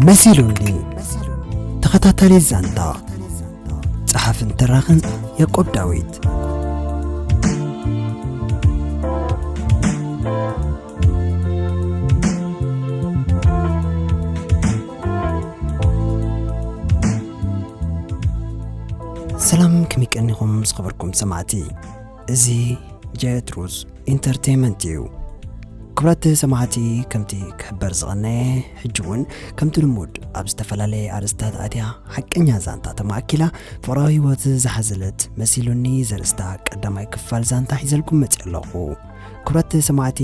መሲሉኒ ተኸታታሊ ዛንታ ጸሓፍን ተራኽን ያቆብ ዳዊት ሰላም ከመይ ቀኒኹም ዝኸበርኩም ሰማዕቲ እዚ ጀትሩዝ ኢንተርቴይመንት እዩ። ክብራት ሰማዕቲ ከምቲ ክሕበር ዝቐነየ ሕጂ እውን ከምቲ ልሙድ ኣብ ዝተፈላለየ ኣርእስታት ኣትያ ሓቀኛ ዛንታ ተማእኪላ ፍቕራዊ ህይወት ዝሓዘለት መሲሉኒ ዘርእስታ ቀዳማይ ክፋል ዛንታ ሒዘልኩም መጺ ኣለኹ። ክብራት ሰማዕቲ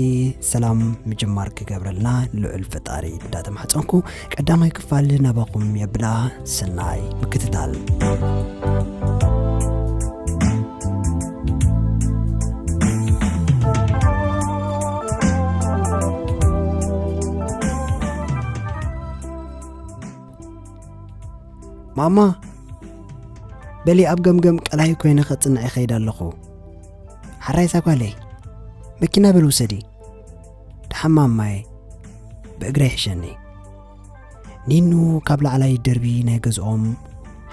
ሰላም ምጅማር ክገብረልና ልዑል ፈጣሪ እንዳተማሕፀንኩ ቀዳማይ ክፋል ናባኹም የብላ ሰናይ ምክትታል ማማ በሊ ኣብ ገምገም ቀላይ ኮይነ ከፅንዐ ይኸይድ ኣለኹ ሓራይ እዛ ጓለይ መኪና በል ውሰዲ ደሓማ ማየ ብእግረይ ሕሸኒ ኒኑ ካብ ላዕላይ ደርቢ ናይ ገዝኦም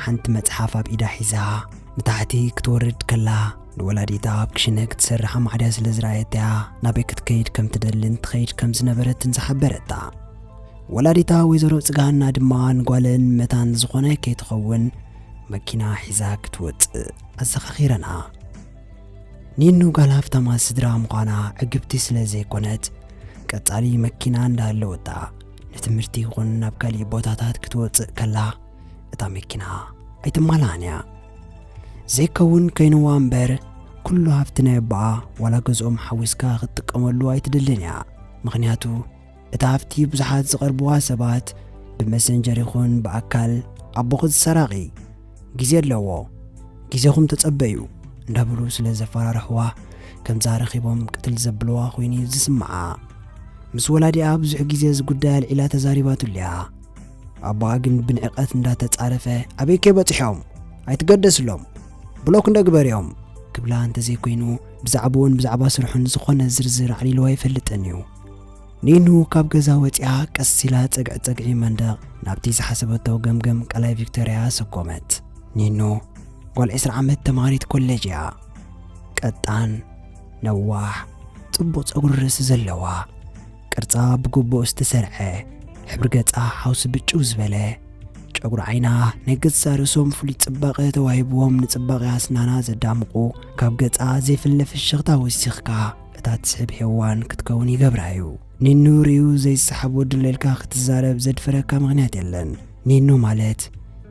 ሓንቲ መጽሓፍ ኣብ ኢዳ ሒዛ ንታሕቲ ክትወርድ ከላ ንወላዲታ ኣብ ክሽነ ክትሰርሕ ኣማዕድያ ስለ ዝረኣየትያ ናበይ ክትከይድ ከም ትደልን ትኸይድ ከም ዝነበረትን ዝሓበረታ ወላዲታ ወይዘሮ ጽጋሃና ድማ ንጓለን መታን ዝኾነ ከይትኸውን መኪና ሒዛ ክትወጽእ ኣዘኻኺረና ኒኑ ጋል ሃፍታማት ስድራ ምዃና ዕግብቲ ስለ ዘይኮነት ቀጻሊ መኪና እንዳሃለወታ ንትምህርቲ ይኹን ናብ ካሊእ ቦታታት ክትወጽእ ከላ እታ መኪና ኣይትማልኣን እያ ዘይከውን ከይንዋ እምበር ኩሉ ሃብቲ ናይ ኣቦኣ ዋላ ገዝኦም ሓዊስካ ክትጥቀመሉ ኣይትደልን እያ ምክንያቱ እታ ሃፍቲ ብዙሓት ዝቐርብዋ ሰባት ብመሰንጀር ይኹን ብኣካል ኣቦኺ ዝሰራቒ ግዜ ኣለዎ ግዜኹም ተጸበዩ እንዳበሉ ስለ ዘፈራርሕዋ ከምዛ ረኺቦም ቅትል ዘብልዋ ኮይኑ ዝስምዓ ምስ ወላዲኣ ብዙሕ ግዜ እዚ ጉዳይ ኣልዒላ ተዛሪባትሉ እያ ኣቦኣ ግን ብንዕቐት እንዳተጻረፈ ኣበይ ከይበጽሖም ኣይትገደስሎም ብሎክ እንደግበርዮም ክብላ እንተዘይኮይኑ ብዛዕባኡን ብዛዕባ ስርሑን ዝኾነ ዝርዝር ኣዕሊልዋ ኣይፈልጥን እዩ ኒኑ ካብ ገዛ ወጺኣ ቀስ ኢላ ጸግዒ ጸግዒ መንደቕ ናብቲ ዝሓሰበቶ ገምገም ቀላይ ቪክቶርያ ሰጎመት። ኒኑ ጓል ዕስራ ዓመት ተማሃሪት ኮሌጅ እያ። ቀጣን፣ ነዋሕ፣ ጽቡቕ ጸጉሪ ርእሲ ዘለዋ፣ ቅርጻ ብግቡእ ዝተሰርዐ፣ ሕብሪ ገጻ ሓውሲ ብጭው ዝበለ፣ ጨጉሪ ዓይና ናይ ገዛ ርእሶም ፍሉይ ጽባቐ ተዋሂብዎም ንጽባቐ ኣስናና ዘዳምቑ ካብ ገጻ ዘይፍለ ፍሽኽታ ወሲኽካ እታ ትስሕብ ሄዋን ክትከውን ይገብራ እዩ። ኒኑ ሪኡ ዘይሰሓብ ወዲ ኣሎ ኢልካ ክትዛረብ ዘድፍረካ ምክንያት የለን። ኒኑ ማለት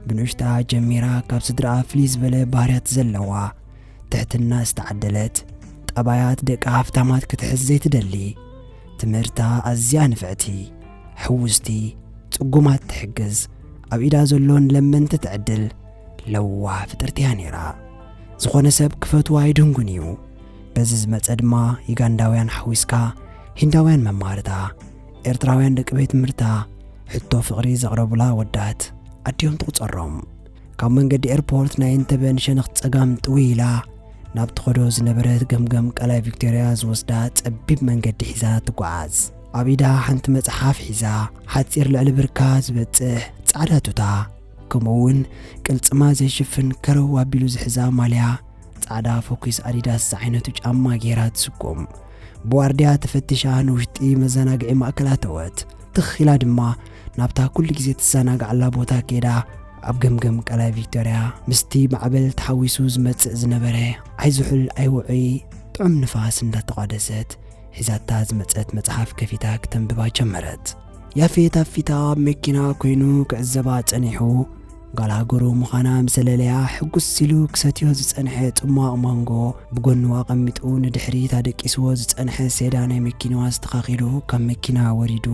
ብንኡሽትኣ ጀሚራ ካብ ስድርኣ ፍልይ ዝበለ ባህርያት ዘለዋ፣ ትሕትና ዝተዓደለት፣ ጠባያት ደቂ ሃፍታማት ክትሕዝ ዘይትደሊ፣ ትምህርታ ኣዝያ ንፍዕቲ፣ ሕውስቲ፣ ጽጉማት ትሕግዝ፣ ኣብ ኢዳ ዘሎ ንለመንቲ ትዕድል ለዋህ ፍጥርቲ እያ ኔራ። ዝኾነ ሰብ ክፈትዋ ይድንጉን እዩ። በዚ ዝመጸ ድማ ዩጋንዳውያን ሓዊስካ ሂንዳውያን መማህርታ፣ ኤርትራውያን ደቂ ቤት ትምህርታ ሕቶ ፍቕሪ ዘቕረቡላ ወዳት ኣዲኦም ትቑጸሮም። ካብ መንገዲ ኤርፖርት ናይ እንተበ ንሸነኽ ጸጋም ጥውይ ኢላ ናብ ትኸዶ ዝነበረት ገምገም ቀላይ ቪክቶርያ ዝወስዳ ጸቢብ መንገዲ ሒዛ ትጓዓዝ። ኣብ ኢዳ ሓንቲ መጽሓፍ ሒዛ ሓጺር ልዕሊ ብርካ ዝበጽሕ ጻዕዳ ቱታ ከምኡ እውን ቅልጽማ ዘይሽፍን ከረው ኣቢሉ ዝሕዛ ማልያ ጻዕዳ ፎኪስ ኣዲዳስ ዝዓይነቱ ጫማ ገይራ ትስጉም ብዋርድያ ተፈቲሻ ንውሽጢ መዘናግዒ ማእከል ኣተወት ትኽ ኢላ ድማ ናብታ ኩሉ ግዜ ትዘናግዓላ ቦታ ከይዳ ኣብ ገምገም ቀላይ ቪክቶርያ ምስቲ ማዕበል ተሓዊሱ ዝመጽእ ዝነበረ ዓይዝሑል ኣይውዑይ ጥዑም ንፋስ እንዳተቋደሰት ሒዛታ ዝመጸት መጽሓፍ ከፊታ ክተንብባ ጀመረት ያፌት ኣብ ፊታ ኣብ መኪና ኮይኑ ክዕዘባ ጸኒሑ ጓል ሃገሩ ምዃና ምስ ዘለለያ ሕጉስ ኢሉ ክሰትዮ ዝጸንሐ ጽሟቕ ማንጎ ብጎኑ ኣቐሚጡ ንድሕሪት ኣደቂስዎ ዝጸንሐ ሴዳ ናይ መኪናዋ ኣስተኻኺሉ ካብ መኪና ወሪዱ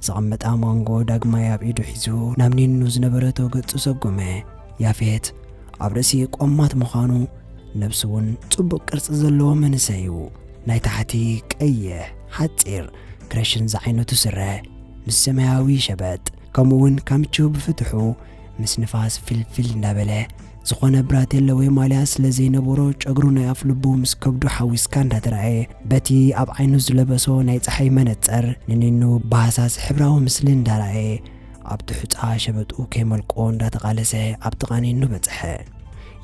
ዘቐመጣ ማንጎ ዳግማይ ኣብ ኢዱ ሒዙ ናብ ኒኑ ዝነበረቶ ገጹ ሰጎመ። ያፌት ኣብ ርእሲ ቆማት ምዃኑ ነብሱ እውን ጽቡቕ ቅርጺ ዘለዎ መንእሰይ እዩ። ናይ ታሕቲ ቀይሕ ሓጺር ክረሽን ዝዓይነቱ ስረ ምስ ሰማያዊ ሸበጥ ከምኡ እውን ካምቹ ብፍትሑ ምስ ንፋስ ፊልፊል እንዳበለ ዝኾነ ብራቴለ ወይ ማልያ ስለ ዘይነበሮ ጨግሩ ናይ ኣፍ ልቡ ምስ ከብዱ ሓዊስካ እንዳተረኣየ በቲ ኣብ ዓይኑ ዝለበሶ ናይ ፀሓይ መነፀር ንኒኑ ብሃሳስ ሕብራዊ ምስሊ እንዳረኣየ ኣብቲ ሑፃ ሸበጡ ከይመልቆ እንዳተቓለሰ ኣብ ጥቓ ኒኑ በፅሐ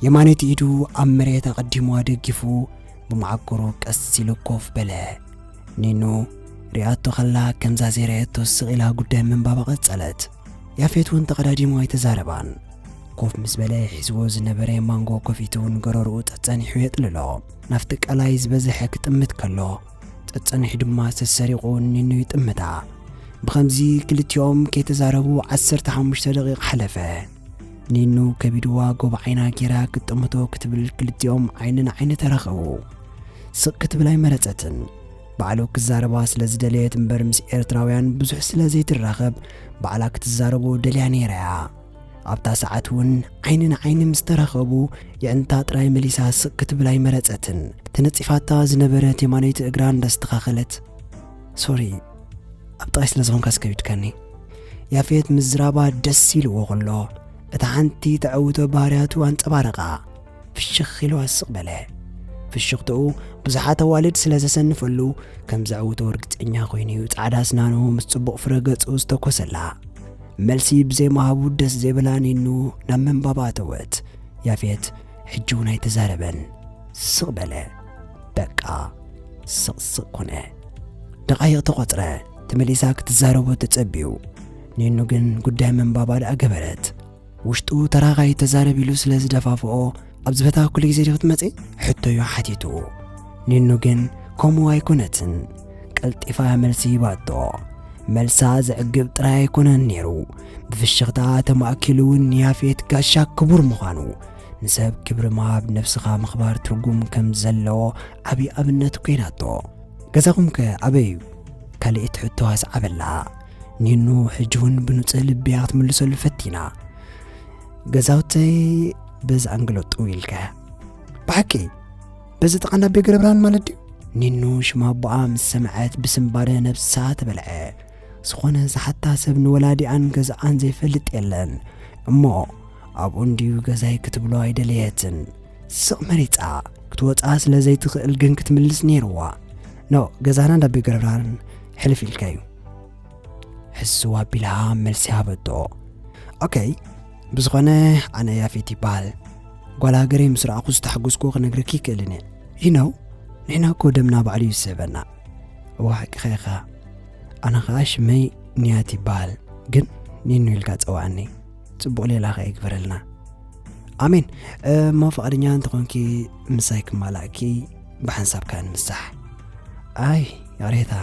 የማነይቲ ኢዱ ኣብ መሬት ኣቐዲሙ ኣደጊፉ ብመዓኮሩ ቀስ ኢሉ ኮፍ በለ ኒኑ ሪኣቶ ከላ ከምዛ ዘይረኣየቶ ስቕ ኢላ ጉዳይ ምንባባ ቀጸለት። ያፌት እውን ተቐዳዲሙ ኣይተዛረባን። ኮፍ ምስ በለ ሒዝዎ ዝነበረ ማንጎ ከፊቱ እውን ገረርኡ ጸጸኒሑ የጥልሎ። ናፍቲ ቀላይ ዝበዝሐ ክጥምት ከሎ ጸጸኒሑ ድማ ሰሰሪቑ ኒኑ ይጥምታ። ብኸምዚ ክልቲኦም ከይተዛረቡ ዓሰርተ ሓሙሽተ ደቒቕ ሓለፈ። ኒኑ ከቢድዋ ጎብ ዓይና ጌራ ክጥምቶ ክትብል ክልቲኦም ዓይኒ ንዓይኒ ተራኸቡ ስቕ ክትብል ኣይመረጸትን ባዕሉ ክዛረባ ስለ ዝደለየት እምበር ምስ ኤርትራውያን ብዙሕ ስለ ዘይትራኸብ ባዕላ ክትዛረቦ ደልያ ነይራ እያ ኣብታ ሰዓት እውን ዓይኒ ንዓይኒ ምስ ተራኸቡ የዕንታ ጥራይ መሊሳ ስቕ ክትብል ኣይመረጸትን ተነጺፋታ ዝነበረት የማነይቲ እግራ እንዳስተኻኸለት ሶሪ ኣብ ጥቓይ ስለ ዝኾንካ ስከቢድካኒ ያፌት ምዝራባ ደስ ኢልዎ ከሎ እታ ሓንቲ ተዕውቶ ባህርያቱ ኣንጸባረቓ ፍሽኽ ኢሉ ኣስቕ በለ ፍሽኽትኡ ብዙሓት ኣዋልድ ስለ ዘሰንፈሉ ከም ዘዕውቶ እርግጸኛ ኮይኑ እዩ ጻዕዳ ስናኑ ምስ ጽቡቕ ፍረ ገጹ ዝተኮሰላ መልሲ ብዘይመሃቡ ደስ ዘይብላ ኒኑ ናብ ምንባባ ኣተወት ያፌት ሕጂ እውን ኣይተዛረበን ስቕ በለ በቃ ስቕ ስቕ ኮነ ደቓይቕ ተቖጽረ ተመሊሳ ክትዛረቦ ተጸብዩ ኒኑ ግን ጉዳይ መንባባ ደኣ ገበረት ውሽጡ ተራኻይ ተዛረብ ኢሉ ስለ ዝደፋፍኦ ኣብ ዝበታ ኩሉ ግዜ ዲ ክትመጺ ሕቶዩ ሓቲቱ ኒኑ ግን ከምኡ ኣይኮነትን ቀልጢፋ መልሲ ሂባቶ መልሳ ዘዕግብ ጥራይ ኣይኮነን ነይሩ ብፍሽኽታ ተማእኪሉ እውን ያፌት ጋሻ ክቡር ምዃኑ ንሰብ ክብሪ ምሃብ ነብስኻ ምኽባር ትርጉም ከም ዘለዎ ዓብዪ ኣብነት ኮይናቶ ገዛኹም ከ ኣበይ እዩ ካልእት ሕቶ ኣስዓበላ ኒኑ ሕጂ እውን ብንጹህ ልብያ ክትምልሰሉ ፈቲና ገዛውተይ በዚ ኣንግሎ ጥው ኢልካ ብሓቂ በዚ ጠቓና ኣቤ ገረብርሃን ማለት ድዩ ኒኑ ሽማ ኣቦኣ ምስ ሰምዐት ብስምባደ ነብሳ ተበልዐ ዝኾነ ዝሓታ ሰብ ንወላዲኣን ገዛኣን ዘይፈልጥ የለን እሞ ኣብኡ እንድዩ ገዛይ ክትብሎ ኣይደለየትን ስቕ መሪፃ ክትወፃ ስለ ዘይትኽእል ግን ክትምልስ ነይርዋ ኖ ገዛና እንዳ ቤት ገረብርሃን ሕልፍ ኢልካ እዩ ሕስዋ ኣቢላ መልሲ ሃበቶ ኦከይ ብዝኾነ ኣነ ያፌት ይበሃል ጓል ሃገረይ ምስ ረኣኹ ዝተሓጎስኩ ክነግረኪ ይክእልን እየ ሊናው ንሕና እኮ ደምና ባዕሉ እዩ ዝስዕበና እዋ ሓቂኻ ኢኻ ኣነ ኸዓ ሽመይ ንያት ይበሃል ግን ኒኑ ኢልካ ጸዋዕኒ ጽቡቕ ሌላ ኸ ይግበረልና ኣሜን እሞ ፈቓደኛ እንተኾንኪ ምሳይ ክማላእኪ ብሓንሳብ ከዓ ንምሳሕ ኣይ ያሬታ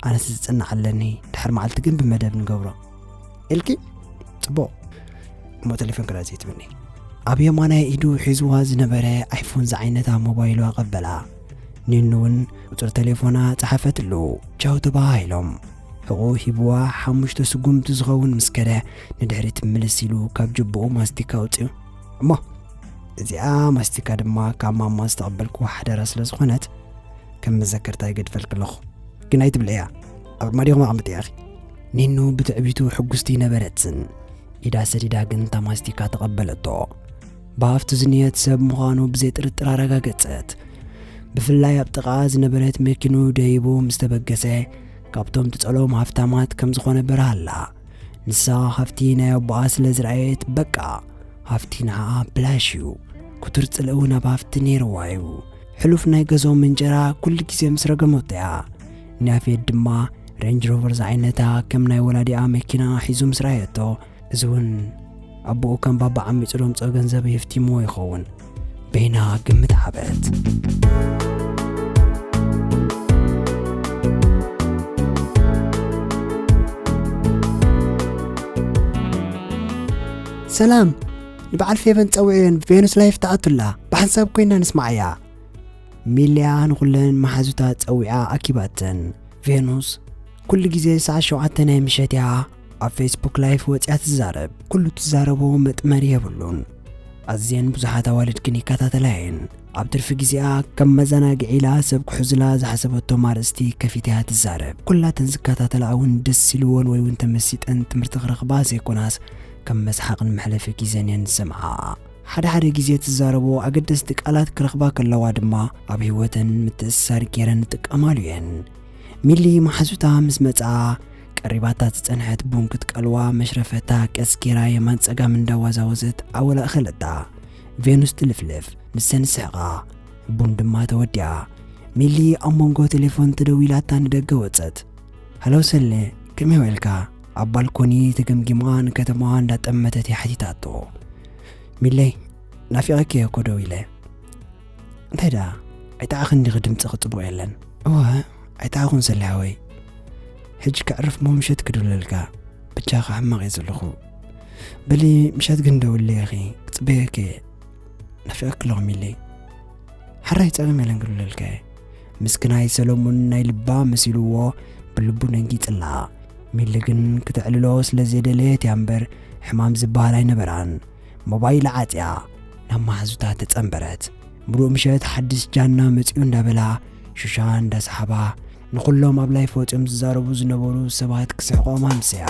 ኣነስ ዝጽናዕ ኣለኒ ድሕር መዓልቲ ግን ብመደብ ንገብሮ ኢልኪ ፅቡቕ እሞ ቴሌፎን ክዳ ዘይትብኒ ኣብ የማናይ ኢዱ ሒዝዋ ዝነበረ ኣይፎን ዝዓይነታ ሞባይሉ ኣቐበላ ኒኑ እውን ቁፅሪ ቴሌፎና ፀሓፈትሉ ቻው ተባሃሂሎም ሕቑ ሂብዋ ሓሙሽተ ስጉምቲ ዝኸውን ምስ ከደ ንድሕሪት ምልስ ኢሉ ካብ ጅብኡ ማስቲካ ኣውፅኡ እሞ እዚኣ ማስቲካ ድማ ካብ ማማ ዝተቐበልኩ ሓደራ ስለ ዝኾነት ከም መዘከርታ ይገድፈልክ ኣለኹ ግን ኣይትብልዕያ ኣርማዲኹም ኣቕምጥ ያኺ ኒኑ ብትዕቢቱ ሕጉስቲ ነበረትን ኢዳ ሰዲዳ ግን እታ ማስቲካ ተቐበለቶ ብሃፍቱ ዝንየት ሰብ ምዃኑ ብዘይ ጥርጥር ኣረጋገጸት ብፍላይ ኣብ ጥቓ ዝነበረት መኪኑ ደይቡ ምስ ተበገሰ ካብቶም ትጸሎም ሃፍታማት ከም ዝኾነ በርሃላ ንሳ ሃፍቲ ናይ ኣቦኣ ስለ ዝረኣየት በቃ ሃፍቲ ንዓኣ ብላሽ እዩ ኩቱር ጽልእ እውን ኣብ ሃፍቲ ነይርዋ እዩ ሕሉፍ ናይ ገዞም እንጀራ ኩሉ ግዜ ምስ ረገመቶ እያ ንያፌት ድማ ሬንጅ ሮቨር ዝዓይነታ ከም ናይ ወላዲኣ መኪና ሒዙ ምስ ረኣየቶ እዚ እውን ኣቦኡ ከም ባባ ዓሚፁ ደምፆ ገንዘብ የፍቲምዎ ይኸውን በይና ግምት ሓበት ሰላም ንበዓል ፌቨን ፀውዕዮን ቬኑስ ላይፍ ተኣቱላ ብሓንሳብ ኮይና ንስማዓያ ሚልያ ንኹለን መሓዙታ ጸዊዓ ኣኪባተን። ቬኑስ ኩሉ ግዜ ሰዓት ሸውዓተ ናይ ምሸት እያ ኣብ ፌስቡክ ላይፍ ወጽያ ትዛረብ። ኩሉ ትዛረቦ መጥመሪ የብሉን። ኣዝየን ብዙሓት ኣዋልድ ግን ይከታተላ እየን። ኣብ ትርፊ ግዜኣ ከም መዘናግዒ ኢላ ሰብ ክሕዙላ ዝሓሰበቶም ኣርእስቲ ከፊታ እያ ትዛረብ። ኩላተን ዝከታተላ እውን ደስ ኢልዎን ወይ እውን ተመሲጠን ትምህርቲ ክረኽባ ዘይኮናስ ከም መስሓቕን መሕለፊ ግዜን እየን ዝሰምዓ። ሓደ ሓደ ግዜ ትዛረቦ ኣገደስቲ ቃላት ክረኽባ ከለዋ ድማ ኣብ ህይወተን ምትእስሳር ገይረን ይጥቀማሉ እየን። ሚሊ መሓዙታ ምስ መጽኣ ቀሪባታ ዝጸንሐት ቡን ክትቀልዋ መሽረፈታ ቀስ ገይራ የማን ጸጋም እንዳዋዛወዘት ኣወል ኣእኸለታ። ቬኑስ ትልፍልፍ፣ ንሰን ይስሕቓ። ቡን ድማ ተወዲኣ። ሚሊ ኣብ መንጎ ቴሌፎን ተደዊላታ ንደገ ወጸት። ሃሎ ሰሌ ከመይ ውዒልካ? ኣብ ባልኮኒ ተገምጊማ ንከተማዋ እንዳጠመተት እያ ሓቲታቶ ሚለይ ናፊቐኪ እየ እኮ ደው ኢለ እንታይ ደኣ ኣይጠዓኽን ዲኺ ድምፅኺ ፅቡቕ የለን እወ ኣይጠዓኹን ሰሊሓወይ ሕጂ ከዕርፍ ሞ ምሸት ክድውለልካ ብቻኻ ሕማቕ እየ ዘለኹ በሊ ምሸት ግን ደውለይ ኢኺ ክፅበየኪ እየ ናፊቐኪ ኣለኹ ሚለይ ሓራይ ፀገም የለን ክድውለልካ እየ ምስክናይ ሰሎሙን ናይ ልባ መሲልዎ ብልቡ ደንጊጽላ። ሚሊ ግን ክተዕልሎ ስለ ዘይደለየት እያ እምበር ሕማም ዝበሃል ኣይነበራን። ሞባይላ ዓጽያ ናብ መሓዙታ ተጸንበረት። ምሉእ ምሸት ሓድሽ ጃና መጺኡ እንዳበላ ሹሻ እንዳሰሓባ ንኹሎም ኣብ ላይፍ ወጺኦም ዝዛረቡ ዝነበሩ ሰባት ክስሕቖም ኣምሰያ።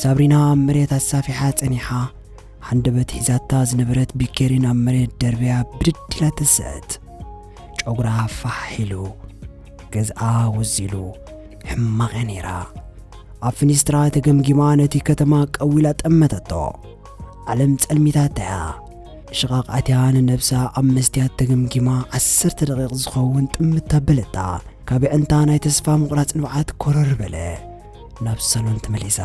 ሳብሪና ኣብ መሬት ኣሳፊሓ ጸኒሓ ሃንደበት ሒዛታ ዝነበረት ቢኬሪን ኣብ መሬት ደርብያ ብድድ ኢላ ተሰአት ጨጉራ ፋሕ ኢሉ ገዝኣ ወዚሉ ሕማቐ ነይራ ኣብ ፍኒስትራ ተገምጊማ ነቲ ከተማ ቀዊላ ጠመተቶ ዓለም ጸልሚታታ እያ። ሽቓቕ ኣትያ ንነብሳ ኣብ መስትያት ተገምጊማ ዓሰርተ ደቒቕ ዝኸውን ጥምት ኣበለታ። ካብ ኣዒንታ ናይ ተስፋ ምቑራጽ ንብዓት ኮረር በለ። ናብ ሳሎን ተመሊሳ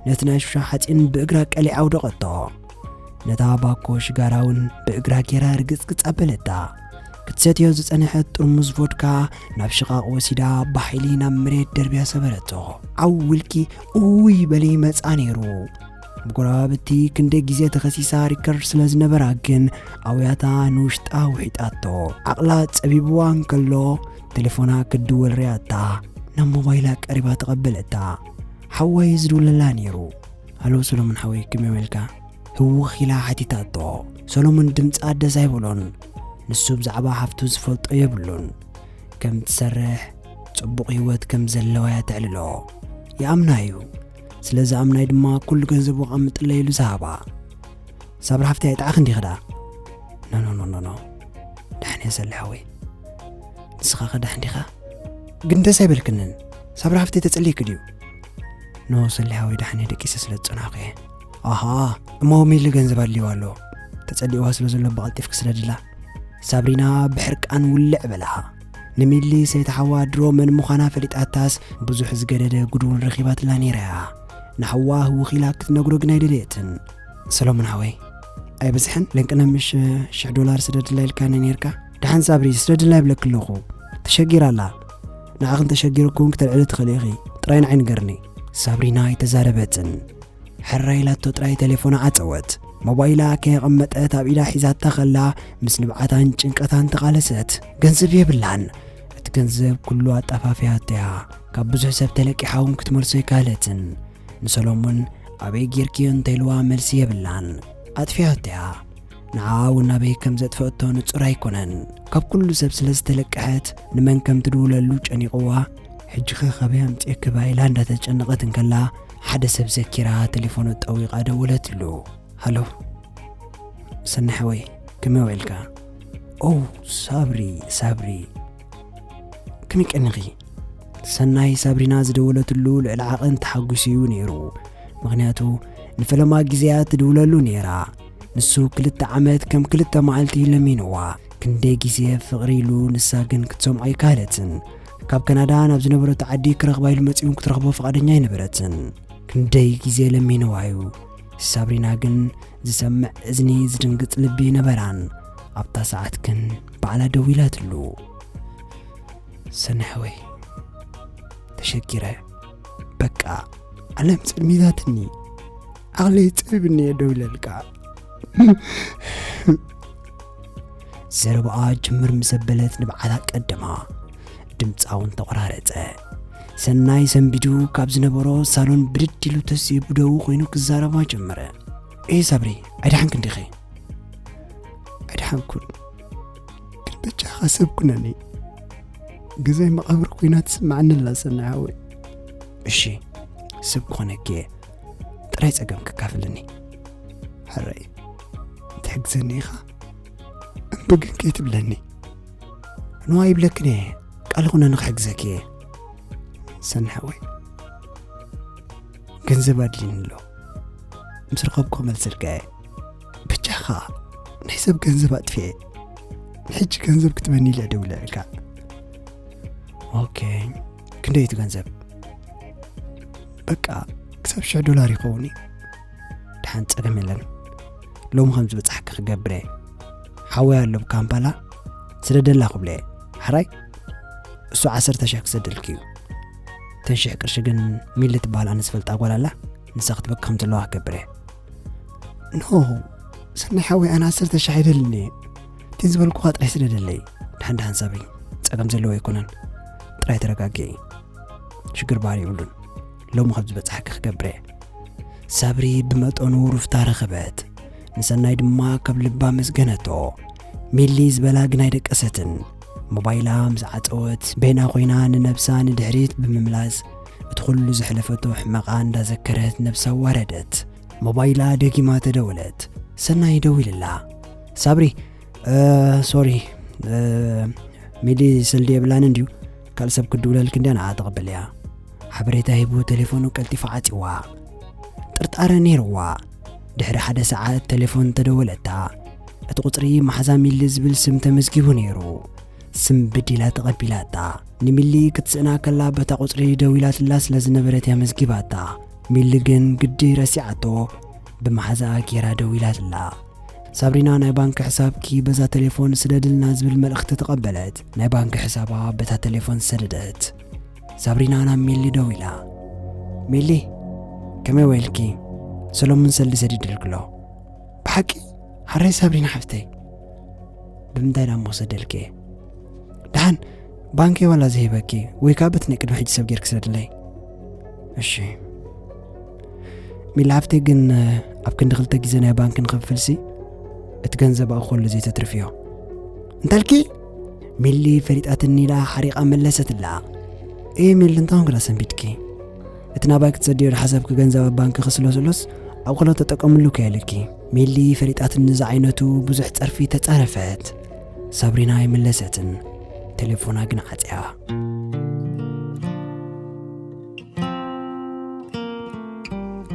ነቲ ናይ ሹሻ ሓጺን ብእግራ ቀሊዓ ኣውደቐቶ። ነታ ባኮ ሽጋራ እውን ብእግራ ጌራ ርግጽግጽ ኣበለታ። ክትሰትዮ ዝጸንሐት ጥርሙዝ ቮድካ ናብ ሽቓቕ ወሲዳ ብሓይሊ ናብ መሬት ደርብያ ሰበረቶ። ዓው ውልቂ እውይ በሊ መጻ ነይሩ። ብጎረባብቲ ክንደይ ግዜ ተኸሲሳ ሪከርድ ስለ ዝነበራ ግን ኣውያታ ንውሽጣ ውሒጣቶ ዓቕላ ጸቢብዋ እንከሎ ቴሌፎና ክትድወል ርያታ ናብ ሞባይላ ቀሪባ ተቐበለታ ሓወይ ዝድውለላ ነይሩ ሃሎ ሰሎሞን ሓወይ ክመይ መልካ ህውኽ ኢላ ሓቲታቶ ሰሎሞን ድምፂ ኣደስ ኣይብሎን ንሱ ብዛዕባ ሓፍቱ ዝፈልጦ የብሉን ከም ትሰርሕ ጽቡቕ ህይወት ከም ዘለዋ እያ ተዕልሎ ይኣምና እዩ ስለዚ ኣምናይ ድማ ኩሉ ገንዘቡ ቐምጥለ ኢሉ ዝሃባ ሳብሪ ሓፍተይ ኣይጥዓኽ እንዲ ኸዳ ኖኖኖኖኖ ዳሕን እየ ዘለሐ ወይ ንስኻ ኸዳሕ እንዲኻ ግን ደስ ኣይበልክንን ሳብሪ ሓፍተይ ተጸልይክ ድዩ ኖ ሰሊሓ ወይ ዳሕን እየ ደቂሰ ስለ ዝጸናኹ እየ ኣሃ እሞ ሚሊ ገንዘብ ኣድልይዋ ኣሎ ተጸሊእዋ ስለ ዘሎ ብቐልጢፍ ክስደድላ ሳብሪና ብሕርቃን ውልዕ በላሃ ንሚሊ ሰይቲ ሓዋ ድሮ መን ምዃና ፈሊጣታስ ብዙሕ ዝገደደ ጉድ እውን ረኺባትላ ነይራ እያ። ንሓዋ ህውኽ ኢላ ክትነግሮ ግን ኣይደለየትን። ሰሎሞን ሓወይ ኣይበዝሐን ለንቅነ ምሽ ሽሕ ዶላር ስደድላ ኢልካኒ ነይርካ ደሓን ሳብሪ ስደድላ ይብለኪ ኣለኹ ተሸጊራ ኣላ ንዓኺን ተሸጊርኩን ክተልዕሊ ትኽእሊ ኢኺ ጥራይ ንዓይ ንገርኒ ሳብሪና ኣይተዛረበትን ሕራይ ኢላቶ ጥራይ ተሌፎና ዓጸወት። ሞባይላ ከየቐመጠት ኣብ ኢዳ ሒዛታ ከላ ምስ ንብዓታን ጭንቀታን ተቓለሰት። ገንዘብ የብላን። እቲ ገንዘብ ኩሉ ኣጣፋፊያቶ እያ። ካብ ብዙሕ ሰብ ተለቂሓ እውን ክትመልሶ ኣይከኣለትን። ንሰሎሙን ኣበይ ጌርክዮ እንተኢልዋ መልሲ የብላን። ኣጥፊኣቶ እያ። ንዓኣ እውን ኣበይ ከም ዘጥፈአቶ ንጹር ኣይኮነን። ካብ ኩሉ ሰብ ስለ ዝተለቀሐት ንመን ከም ትድውለሉ ጨኒቕዋ ሕጂኸ ካበይ ኣምጺኤክባ ኢላ እንዳተጨነቐት እንከላ ሓደ ሰብ ዘኪራ ተሌፎኑ ጠዊቓ ደወለትሉ። ሃሎ ሰናይ ሓወይ ከመይ ውዒልካ? ኦው ሳብሪ ሳብሪ ከመይ ቀኒኺ? ሰናይ ሳብሪና ዝደወለትሉ ልዕሊ ዓቐን ተሓጒሱ እዩ ነይሩ። ምኽንያቱ ንፈለማ ግዜያ ትድውለሉ ነይራ። ንሱ ክልተ ዓመት ከም ክልተ መዓልቲ ለሚንዋ። ክንደይ ግዜ ፍቕሪ ኢሉ ንሳ ግን ክትሰምዖ ኣይከኣለትን። ካብ ከናዳ ናብ ዝነበረቶ ዓዲ ክረኽባ ኢሉ መጺኡን ክትረኽቦ ፍቓደኛ ኣይነበረትን ክንደይ ግዜ ለሚንዋዩ ሳብሪና ግን ዝሰምዕ እዝኒ ዝድንግጽ ልቢ ነበራን ኣብታ ሰዓት ግን ባዕላ ደው ኢላትሉ ሰናሕወይ ተሸጊረ በቃ ዓለም ጽልሚታትኒ ዓቕለይ ጥብ እኒየ ደው ኢለልካ ዘረባኣ ጅምር ምስ ዘበለት ንብዓታ ቀደማ ድምፃ እውን ተቆራረፀ ሰናይ ሰንቢዱ ካብ ዝነበሮ ሳሎን ብድድ ኢሉ ተስ ብደው ኮይኑ ክዛረባ ጀመረ ኤ ሳብሪ ኣይደሓንክን ዲኺ ኣይደሓንኩን ግን በጃኻ ሰብ ኩነኒ ግዜ መቓብር ኮይና ትስምዓኒ ኣላ ሰናይ ሃወይ እሺ ሰብ ክኾነኪ እየ ጥራይ ጸገም ክካፍልኒ ሕረይ ትሕግዘኒ ኢኻ እምቢ ግን ከይትብለኒ ንዋ ይብለክን እየ ቃል ኹነ ንክሕግዘኪ እየ ሰንሐወይ ገንዘብ ኣድልኒ ኣሎ ምስ ረኸብኩ ክመልሰልካ እየ ብቻኻ ናይ ሰብ ገንዘብ ኣጥፍየ ንሕጂ ገንዘብ ክትበኒ ኢለ ደውለልካ ኦኬ ክንደይ እቲ ገንዘብ በቃ ክሳብ ሽሕ ዶላር ይኸውን እዩ ድሓን ጸገም የለን ሎሚ ከም ዝበጻሕኪ ክገብረ ሓወይ ኣሎ ካምፓላ ስደደላ ክብለ ሓራይ እሱ ዓሰርተ ሽሕ ክሰደልኪ እዩ ተን ሽሕ ቅርሺ ግን ሚሊ ትበሃል ኣነ ዝፈልጣ ጓል ኣላ ንሳ ክትበክ ከም ዘለዋ ክገብረ ኖ ሰናይ ሓወይ ኣነ ዓሰርተ ሽሕ ኣይደልን እየ እቲን ዝበልኩኻ ጥራይ ስደደለይ ድሓን ድሓን ሳበይ ጸገም ዘለዎ ኣይኮነን ጥራይ ተረጋጊ ሽግር በሃል የብሉን ሎሚ ኸብ ዝበጽሓኪ ክገብረ ሳብሪ ብመጠኑ ሩፍታ ረኸበት ንሰናይ ድማ ካብ ልባ መስገነቶ ሚሊ ዝበላ ግን ኣይደቀሰትን ሞባይላ ምስ ዓፀወት በይና ኮይና ንነብሳ ንድሕሪት ብምምላስ እቲ ኩሉ ዘሕለፈቶ ሕመቓ እንዳዘከረት ነብሳ ዋረደት ሞባይላ ደጊማ ተደወለት ሰናይ ደዊልላ ሳብሪ ሶሪ ሚሊ ስልዲ የብላን እንድዩ ካልእ ሰብ ክድውለልኪ እንድያ ንኣ ተቐበልያ ሓበሬታ ሂቡ ቴሌፎኑ ቀልጢፉ ዓጽዋ ጥርጣረ ነይርዋ ድሕሪ ሓደ ሰዓት ቴሌፎን ተደወለታ እቲ ቁፅሪ መሓዛ ሚሊ ዝብል ስም ተመዝጊቡ ነይሩ ስም ብዲላ ተቐቢላታ ንሚሊ ክትስእና ከላ በታ ቁፅሪ ደዊላትላ ስለ ዝነበረት እያ መዝጊባታ ሚሊ ግን ግዲ ረሲዓቶ ብመሓዛ ጌራ ደዊላትላ ሳብሪና ናይ ባንኪ ሕሳብኪ በዛ ቴሌፎን ስደድልና ዝብል መልእኽቲ ተቐበለት ናይ ባንክ ሕሳባ በታ ተሌፎን ሰደደት። ሳብሪና ናብ ሜሊ ደው ኢላ፣ ሜሊ ከመይ ወይልኪ ሰሎሙን ሰልዲ ሰዲድልክሎ ብሓቂ ሓረይ ሳብሪና ሓፍተይ ብምንታይ ዳሞ ሰደልኪ ደሓን ባንኪ ዋላ ዝሂበኪ ወይ ከዓ በቲ ናይ ቅድሚ ሕጂ ሰብ ጌርኪ ሰድለይ እሺ ሚሊ ሓፍተይ ግን ኣብ ክንዲ ክልተ ግዜ ናይ ባንኪ ንክፍልሲ እቲ ገንዘብ ኣብኡ ከሉ ዘይተትርፍዮ እንታልኪ ሚሊ ፈሊጣትኒ ኢላ ሓሪቓ መለሰትላ እየ ሚሊ እንታይ ኹንክላ ሰንቢድኪ እቲ ናባይ ክትሰድዮ ዝሓሰብኪ ገንዘብ ኣብ ባንኪ ክስሎ ስሎስ ኣብ ቐሎ ተጠቀምሉ ከየልኪ ሚሊ ፈሊጣትኒ ዝዓይነቱ ብዙሕ ጸርፊ ተጻረፈት ሳብሪና ኣይመለሰትን ቴሌፎና ግን ዓጽያ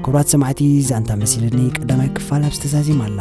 ክብራት ሰማዕቲ ዛንታ መሲልኒ ቀዳማይ ክፋል ኣብ ዝተዛዚም ኣላ